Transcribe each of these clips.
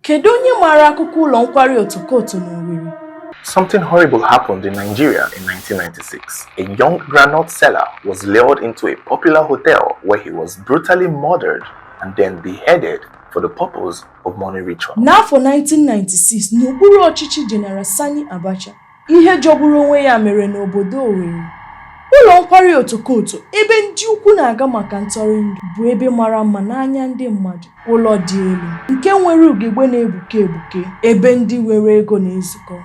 Kedu onye maara akụkọ ụlọ nkwari Otokoto n'Owerri? Something horrible happened in Nigeria in 1996. A young groundnut seller was lured into a popular hotel where he was brutally murdered and then beheaded for the purpose of money ritual. N'afọ 1996, n'okpuru ọchịchị General Sani Abacha, Ihe jọgburu onwe ya mere n'obodo Owerri. Ụlọ nkwari Otokoto ebe ndị ukwu na-aga maka ntọrịndụ bụ ebe mara mma n'anya ndị mmadụ. Ụlọ dị elu nke nwere ugegbe na-egbuke egbuke ebe ndị nwere ego na-ezukọ.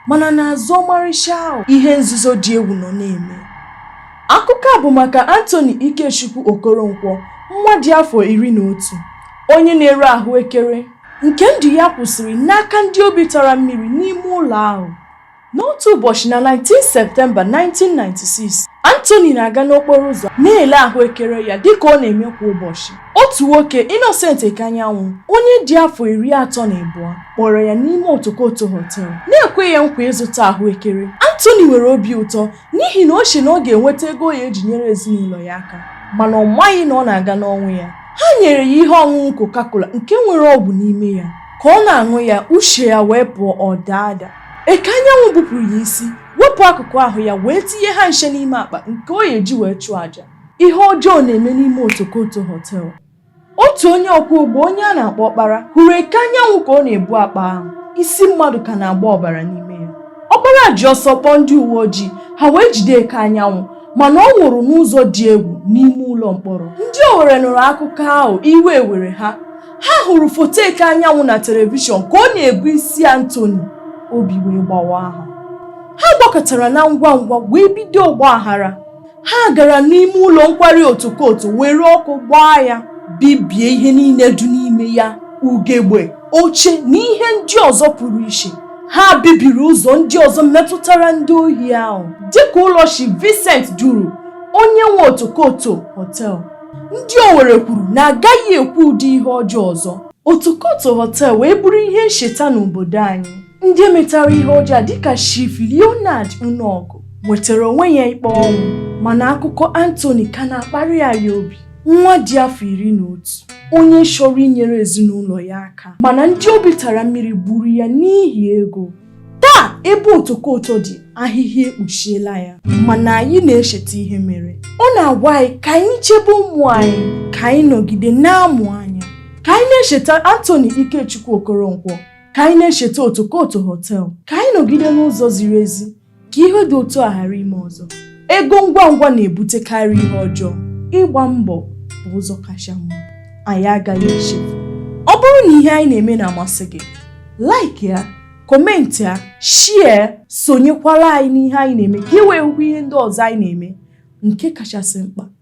Mana n'azụ ọmarịcha ahụ, ihe nzuzo dị egwu nọ na-eme. Akụkọ a bụ maka Anthony Ikechukwu Okoronkwo, nwa dị afọ iri na otu, onye na-ere ahụekere. nke ndụ ya kwụsịrị n'aka ndị obi tara mmiri n'ime ụlọ ahụ n'otu ụbọchị na 19 septemba 1996 Anthony na-aga n'okporo ụzọ na-ele ahụekere ya dịka ọ na-eme kwa ụbọchị otu nwoke Innocent Ekeanyanwụ onye dị afọ iri atọ na abụọ kpọrọ ya n'ime Otokoto Hotel na-ekwe ya nkwa ịzụta ahụekere Anthony nwere obi ụtọ n'ihi na o che na ọ ga-enweta ego ọ ya-eji nyere ezinụlọ ya aka mana ọ maghị na ọ na-aga n'ọnwụ ya ha nyere ya ihe ọṅụṅụ Coca-Cola nke nwere ọgwụ n'ime ya ka ọ na-aṅụ ya uche ya wee pụọ ọ daa ada Ekeanyanwụ gbupụrụ ya isi wepụ akụkụ ahụ ya wee tinye ha ncha n'ime akpa nke ọ ya-eji wee chụọ àjà ihe ọjọọ na-eme n'ime Otokoto Hotel otu onye ọkwọ ụgbọ onye a na-akpọ ọkpara hụrụ Ekeanyanwụ ka ọ na-ebu akpa ahụ isi mmadụ ka na-agba ọbara n'ime ya ọkpara ji ọsọ kpọọ ndị uwe ojii ha wee jide Ekeanyanwụ mana ọ nwụrụ n'ụzọ dị egwu n'ime ụlọ mkpọrọ ndị Owerri nụrụ akụkọ ahụ iwe were ha ha hụrụ foto Ekeanyanwụ na telivishọn ka ọ na-ebu isi Anthony obi wee gbawa ha ha gbakọtara na ngwa ngwa wee bido ọgbaghara ha gara n'ime ụlọ nkwari Otokoto were ọkụ gbaa ya bibie ihe niile dị n'ime ya ugegbe oche na ihe ndị ọzọ pụrụ iche ha bibiri ụzọ ndị ọzọ metụtara ndị ohi ahụ dịka ụlọ Chief Vincent Duru onye nwe Otokoto Hotel ndị Owerri kwuru na agaghị ekwe ụdị ihe ọjọọ ọzọ Otokoto Hotel wee bụrụ ihe ncheta n'obodo anyị ndị metara ihe ọjọọ dịka Chief Leonard Unaogu nwetara onwe ya ikpe ọnwụ mana akụkọ Anthony ka na-akparị anyị obi nwa dị afọ iri na otu onye chọrọ inyere ezinụlọ ya aka mana ndị obi tara mmiri gburu ya n'ihi ego taa ebe Otokoto dị ahịhịa ekpuchiela ya mana anyị na-echeta ihe mere ọ na-agwa anyị ka anyị chebe ụmụ anyị ka anyị nọgide na-amụ anya ka anyị na-echeta Anthony Ikechukwu Okoronkwo ka anyị na-echeta otokoto họtel ka anyị nọgide n'ụzọ ziri ezi ka ihe dị otu a ghara ime ọzọ ego ngwa ngwa na-ebutekarị ihe ọjọọ ịgba mbọ bụ ụzọ kacha mma anyị agaghị echefu ọ bụrụ na ihe anyị na-eme na-amasị gị like ya kọmentị ya share sonyekwara anyị n'ihe anyị na-eme ka ị wee hụkwa ihe ndị ọzọ anyị na-eme nke kachasị mkpa